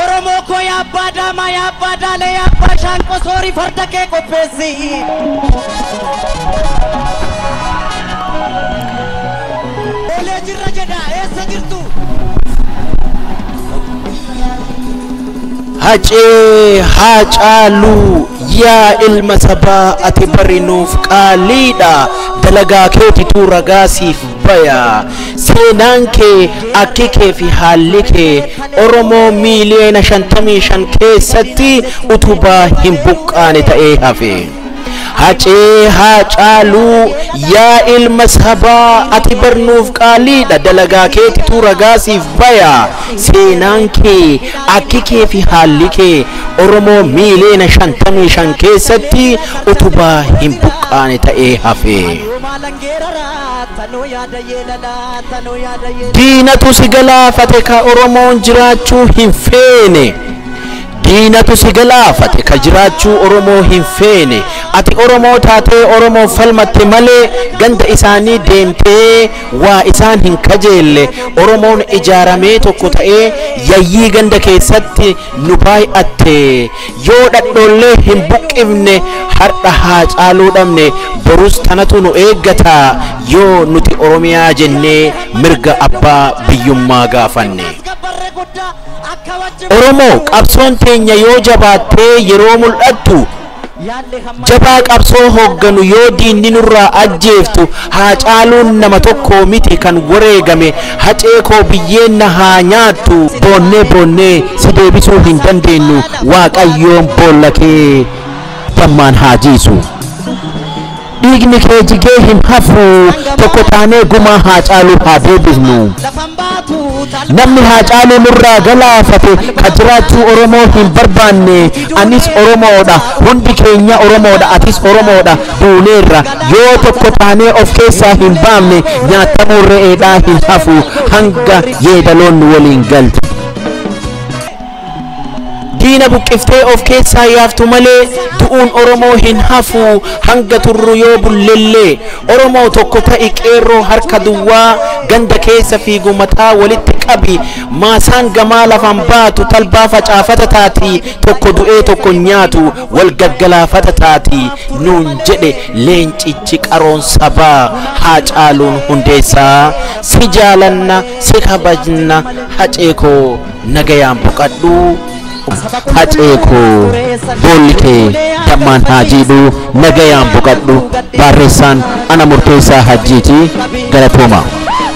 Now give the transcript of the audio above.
Oromoo koo yaa abbaa daamaa yaa abbaa daalee yaa abbaa shaanqoo soorii farda kee qopheessi. Olee jirra jedha eessa jirtu? Hacee haa caaluu yaa ilma sabaa ati bari nuuf qaaliidha dalagaa keetitu ragaa siif baya seenaan kee akki kee fi haalli kee Oromoo miiliyoona 55 keessatti utubaa hin buqqaane ta'ee hafe. Hacee Haacaaluu yaa ilma sabaa ati bar nuuf qaaliidha dalagaa keetitu ragaa siif baya seenaan kee akki kee fi haalli kee Oromoo miiliyoona 55 keessatti utubaa hin buqqaane ta'ee hafe. Diinatu si galaafate ka Oromoon jiraachuu hin feene. Diinatu si galaafate ka jiraachuu Oromoo hin feene. Ati Oromoo taatee Oromoon falmatte malee ganda isaanii deemtee waa isaan hin kajeelle. Oromoon ijaaramee tokko ta'ee yayyii ganda keessatti nu baay'atte. Yoo dhadhoollee hin buqqifne hardha Haacaaluu dhabne borus tanatu nu eeggata yoo nuti Oromiyaa jennee mirga abbaa biyyummaa gaafanne. Oromoo qabsoon teenya yoo jabaattee yeroo mul'attu, Jabaa qabsoo hoogganu yoo diinni nurraa ajjeeftu Haacaaluun nama tokkoo miti kan wareegame Hacee koo biyyeen na haa nyaattu boonnee boonnee si deebisuu hin dandeennu Waaqayyoon boolla kee dammaan haa jiisu Dhiigni kee jigee hin hafu tokko taanee gumaa Haacaaluu haa deebifnu. Namni Haacaaluu nurraa galaafate ka jiraachuu Oromoo hin barbaanne anis Oromoodha hundi keenya Oromoodha atis Oromoodha duuneerra yoo tokko taanee of keessaa hin baamne nyaatamuun re'eedhaa hin hafu hanga yeedaloon nu waliin galtu. Diina buqqiftee of keessaa yaaftu malee du'uun Oromoo hin hafu hanga turru yoo bullellee. Oromoo tokko ta'i qeerroo harka duwwaa ganda keessa fiigu mataa walitti qabi maasaan gamaa lafaan baatu talbaa facaafata taati tokko du'ee tokko hin nyaatu wal gaggalaafata taati nuun jedhe leencichi qaroon sabaa Haacaaluun Hundeessaa si jaalanna si kabajna hacee koo Nagayaan boqadhu hacee koo boolli kee dammaan haa jiidhu nagayaan boqadhu baarreessaan ana murteessaa hajjiiti galatoomaa.